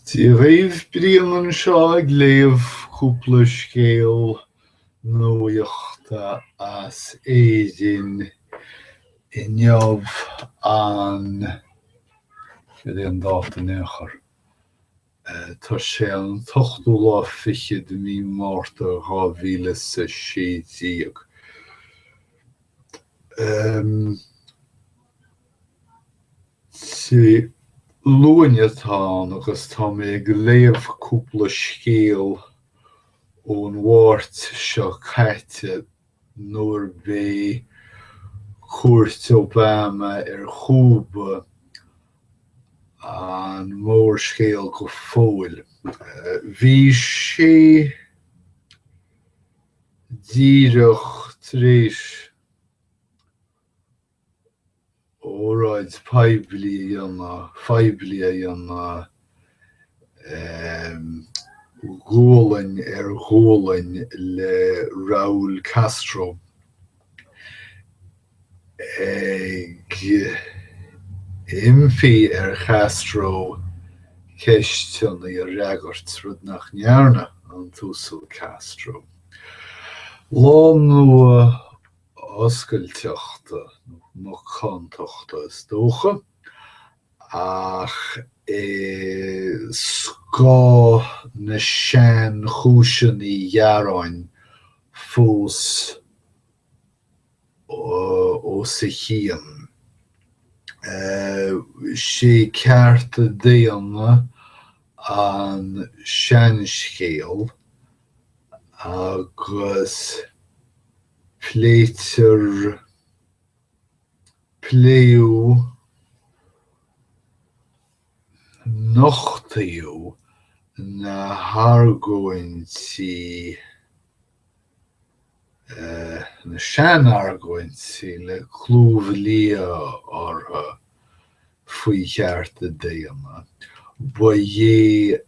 Dia dhaoibh, Brian anseo ag léamh cúpla scéal nuachta as Éirinn inniu an, cad é an dáta in aon chor, tá sé an t-ochtú lá fichead de mhí Márta dhá mhíle is a sé déag. Dé Luain atá ann agus tá mé ag léamh cúpla scéal ón Mháirt seo caite nuair ab é cuairt Obama ar Chúba an mórscéal go fóill. Bhí sé díreach tar éis óráid poiblí a dhéanamh, phoiblí a dhéanamh, gualainn ar ghualainn le Raúl Castro ag impí ar Chastro ceisteanna a fhreagairt, rud nach ndearna an tUasal Castro. Lá Nua. oscailteachta nó macántachta is dócha, ach scáth na sean-chúiseanna ghearáin fós os a chionn. 'Sé cearta daonna an seanscéal agus. Pléitear, pléadh, nochtadh na hargóintí, na sean-argóintí le clúmh liath orthu faoi chearta daonna. Ba é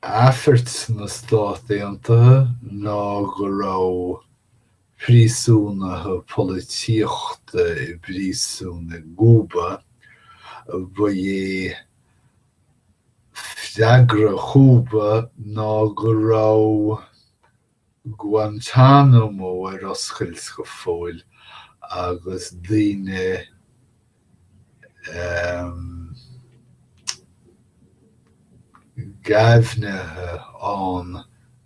Aifirt na Stát Aontaithe ná go raibh príosúnaithe polaitíochta i bpríosún i gCúba, ba é freagra Chúba ná go raibh. Guantánamo ar oscailt go fóill agus daoine géibhnithe ann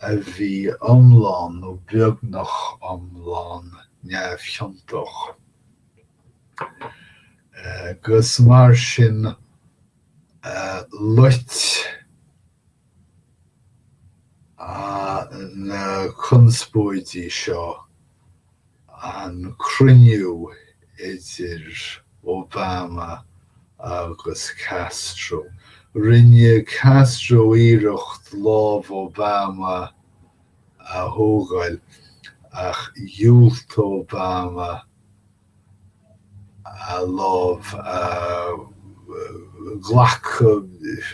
a bhí iomlán nó beagnach iomlán neamhchiontach, agus mar sin loit. na conspóidí seo an cruinniú idir Obama agus Castro. Rinne Castro iarracht lámh Obama a thógáil ach dhiúltaigh Obama a lámh a ghlacadh,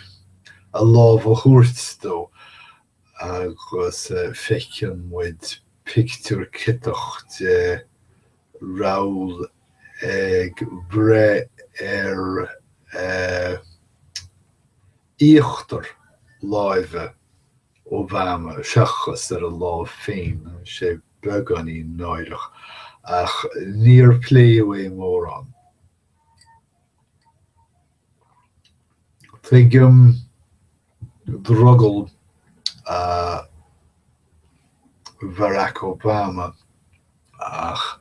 a lámh a thabhairt dó agus feiceann muid pictiúr ciotach de Raúl ag breith ar íochtar láimhe. Obama, seachas ar a lámh féin, tá sé beagáinín náireach, ach níor pléadh é mórán. Tuigim drogall Bharack Obama. Ach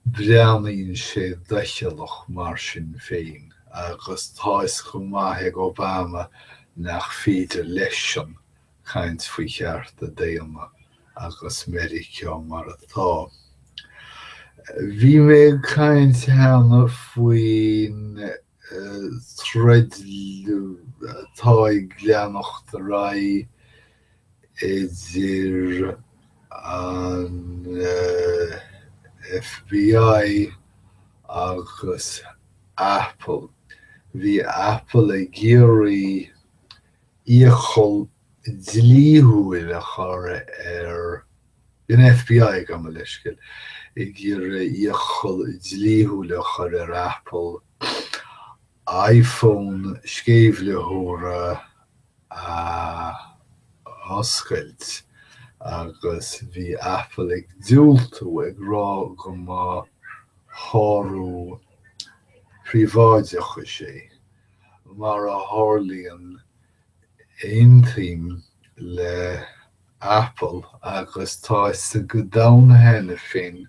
breathnaíonn sé doicheallach mar sin féin, agus tá fhios go maith ag Obama nach féidir leis-sean caint faoi chearta daonna agus Meiriceá mar atá. Bhí mé ag caint cheana faoin troid atá ag leanacht ar aghaidh idir an FBI agus Apple. Bhí Apple ag iarraidh iachall dlíthiúil a chur ar, bhí an FBI, gabh mo leithscéal, ag iarraidh iachall dlíthiúil a chur ar Apple iPhone sceimhlitheora a oscailt agus bhí Apple ag diúltú, ag rá go mba shárú príobháideachais é. Mar a tharlaíonn, aontaím le Apple agus tá's ag an domhan cheana féin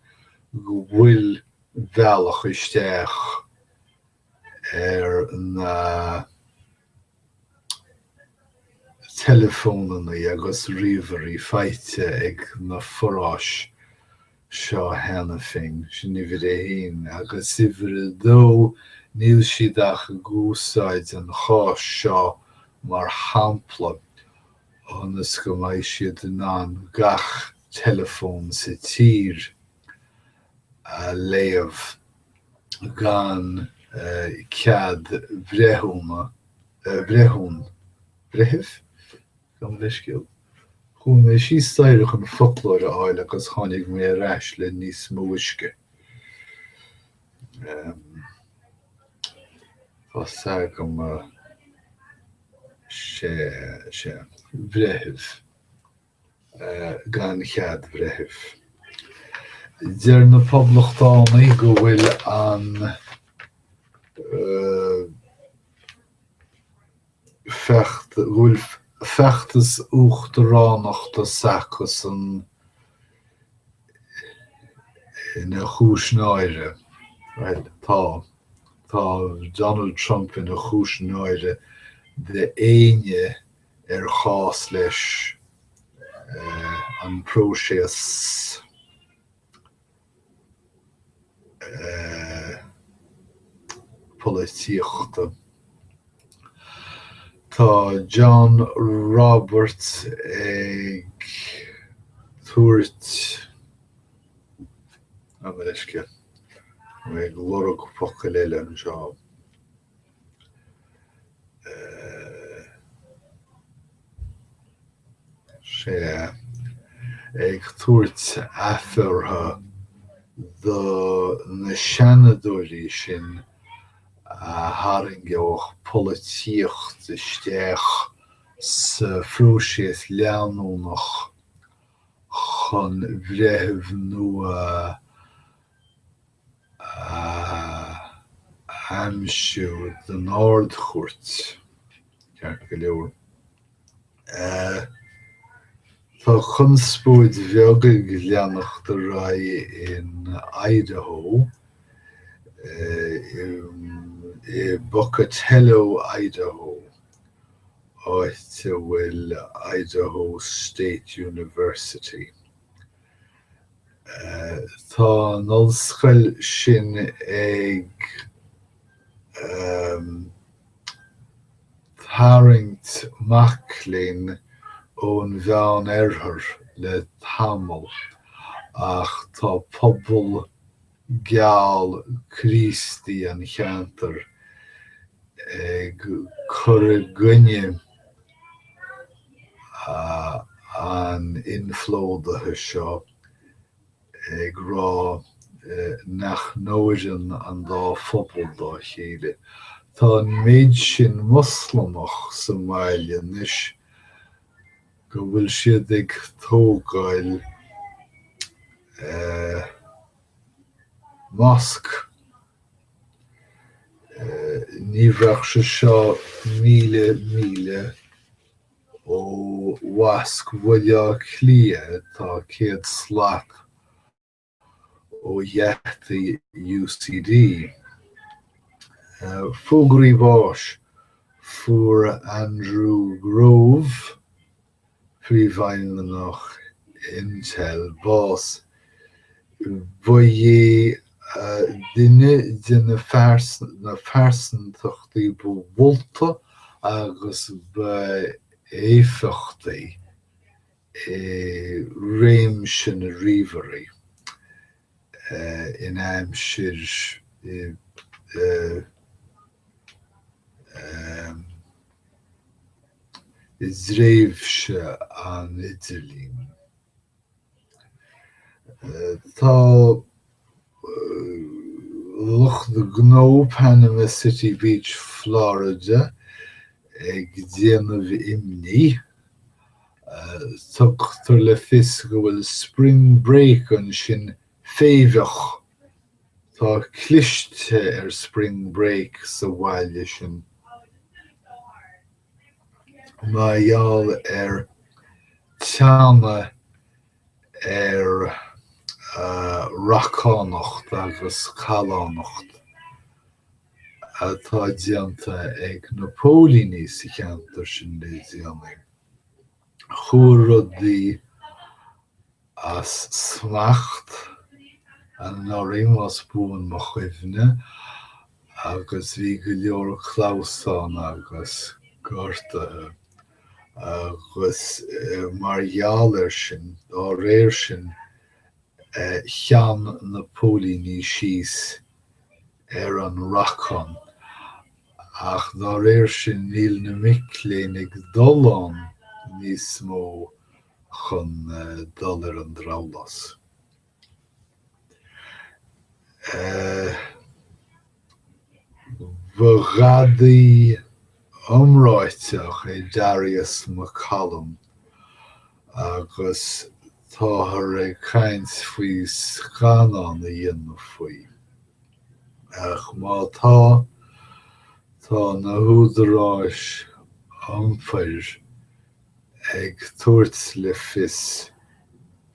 go bhfuil bhealach isteach ar na teileafónannaí agus ríomhairí faighte ag na forais seo cheana féin, sin uimhir a haon, agus uimhir a dó, níl siad ach ag úsáid an cháis seo mar shampla ionas go mbeidh siad in ann gach teileafón sa tír, a léamh gan cead breithiúna, breithiún, breithimh? Gabh mo leithscéal. Chuaigh mé síos staighre chun foclóir a fháil agus tháinig mé ar ais le níos mó uisce. Tá 's agam, sea, sea. Breithimh. gan cead breithimh. Deir na Poblachtánaigh go bhfuil an go bhfuil feachtas uachtaránachta s'acusan ina chúis náire. Bhuel, tá. Tá Donald Trump ina chúis náire d'éinne. ar chás leis an bpróiseas polaitíochta. Tá John Roberts ag tabhairt gabh mo leithscéal, ag lorg focail eile anseo. Tá sé ag tabhairt aifirte do na seanadóirí sin a tharraingeodh polaitíocht isteach sa phróiseas leanúnach chun breitheamh nua a aimsiú don Ard-Chúirt, ceart go leor. Tá conspóid bheag ag leanacht ar aghaidh in Idaho, i bPocatello, Idaho, áit a bhfuil Idaho State University. Tá an ollscoil sin ag tarraingt mac léinn ón Mheán-Oirthear le tamall ach tá pobal geal Críostaí an cheantair ag cur i gcoinne an inphlódaithe seo, ag rá nach n-oireann an dá phobal dá chéile. Tá an méid sin Moslamach sa mbaile anois, go bhfuil siad ag tógáil mosc. Ní bheadh sé seo míle míle ó mhosc Bhaile Átha Cliath atá céad slat ó gheataí UCD. Fógraí báis, Fuair Andrew Grove, príomhfheidhmeannach Intel, bás. Ba é duine de na pearsantachtaí ba mholta agus ba éifeachtaí. i réimse na ríomhairí eh in aimsir i dtréimhse an idirlín. Tá. lucht gnó Panama City Beach Florida ag déanamh imní, tugtar le fios go bhfuil spring break ansin féimheach, tá cliste ar spring break sa bhaile sin, mar gheall ar teannadh ar racánacht agus callánacht atá déanta ag na póilíní sa cheantar sin le déanaí. Chuaigh rudaí as smacht anuraidh, más buan mo chuimhne, agus bhí go leor clamhsán agus gortaithe. agus mar gheall air sin, dá réir sin, theann na póilíní síos ar an racán, ach dá réir sin, níl na mic léinn ag dul ann níos mó chun dul ar an drabhlás. Ba ghadaí iomráiteach é Darius McCollum agus táthar ag caint faoi scannán a dhéanamh faoi. Ach má tá, tá na húdaráis iompair ag tabhairt le fios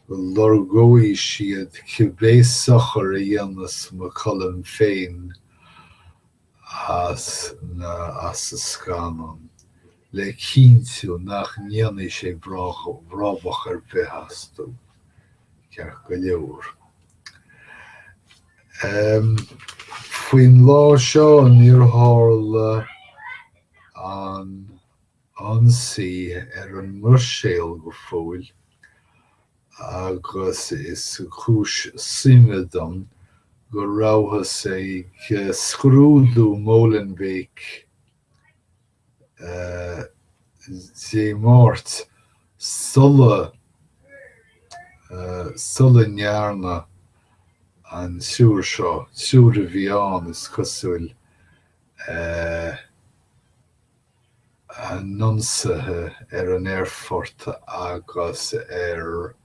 go lorgóidh siad cibé sochar a dhéanas McCollum féin as as an scannán le cinntiú nach ndéanfaidh sé brabach ar bith astu, ceart go leor. Faoin lá seo níor tharla an. ionsaí ar an mBruiséil go fóill agus is cúis suime dom go rabhthas ag scrúdú Molenbeek Dé Máirt sula sula ndearna an triúr seo, triúr a bhí ann, is cosúil, an ionsaithe ar an aerfort agus ar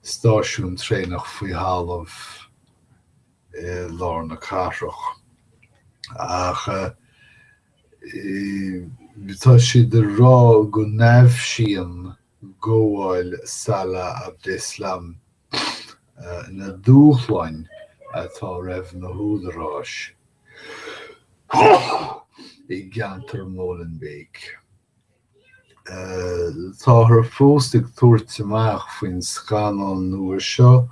stáisiún traenach faoi thalamh i lár na cathrach. Ach tá siad ag rá go n-aibhsíonn gabháil Salah Abdeslam na dúshláin atá roimh na húdaráis i gceantar Molenbeek. Táthar fós ag tabhairt amach faoin scannán nua seo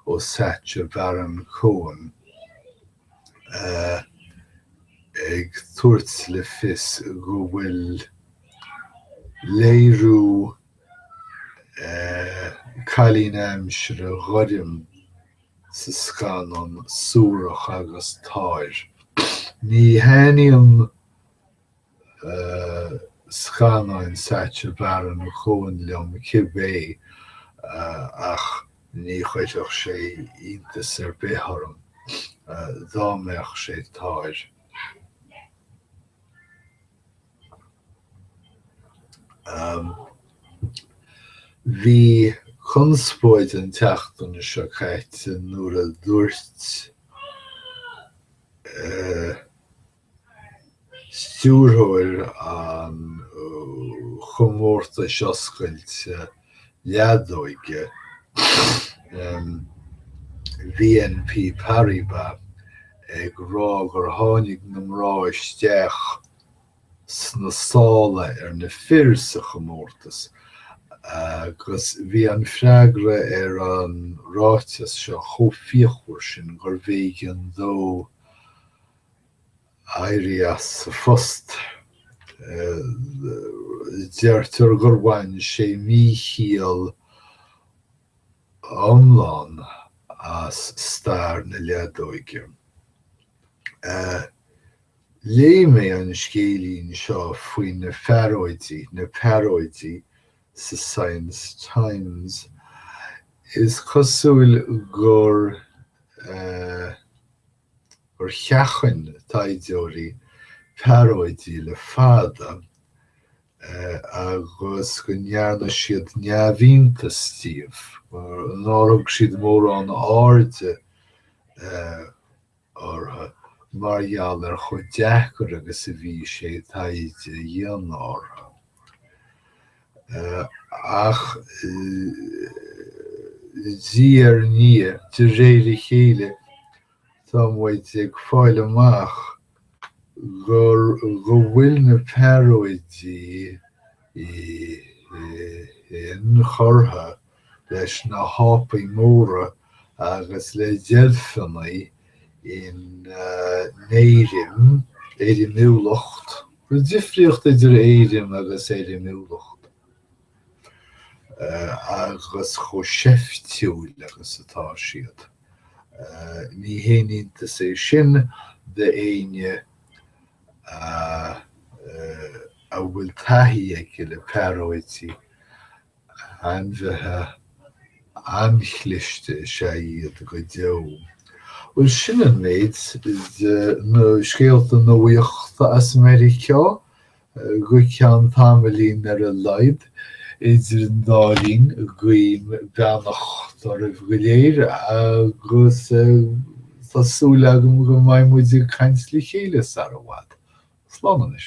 ó Sacha Baron Cohen. ag tabhairt le fios go bhfuil léiriú cailín aimsire ghoirm sa scannán suarach agus táir. Ní thaitníonn scannáin Sacha Baron Cohen liom cibé ach ní chuirfeadh sé iontas ar bith orm dá mbeadh sé táir. Bhí conspóid an tseachtain seo caite nuair a dúirt. stiúrthóir an chomórtais oscailte leadóige BNP Paribas ag rá gur tháinig na mná isteach sna sála ar na fir sa chomórtas agus bhí an freagra ar an ráiteas seo chomh fíochmhar sin gur bh'éigean dó éirí as a phost. Deirtear gur bhain sé míchiall iomlán as stair na leadóige. Léigh mé an scéilín seo faoi na fearóidí, na pearóidí, sa Science Times. Is cosúil gur. gur sheachain taighdeoirí pearóidí le fada agus go ndearna siad neamhiontas díobh, nár thug siad mórán airde orthu mar gheall ar chomh deacair agus a bhí sé taighde a dhéanamh orthu. Ach diaidh ar ndiaidh, de réir a chéile, tá muid ag fáil amach gur, go bhfuil na pearóidí, inchurtha leis na hápaí móra agus le deilfeanna in éirim, éirimiúlacht, an difríocht idir éirim agus éirimiúlacht, agus chomh seiftiúil agus atá siad. Ní haon iontas é sin d'éinne a bhfuil taithí aige le pearóidí. Ainmhithe an-chliste is ea iad go deo. Bhuel, sin an méid de na scéalta nuachta as Meiriceá, go ceann tamaillín ar a laghad. Idir an dá linn, guím beannacht oraibh go léir agus tá súil agam go mbeidh muid ag caint le chéile sara bhfad. Slán anois.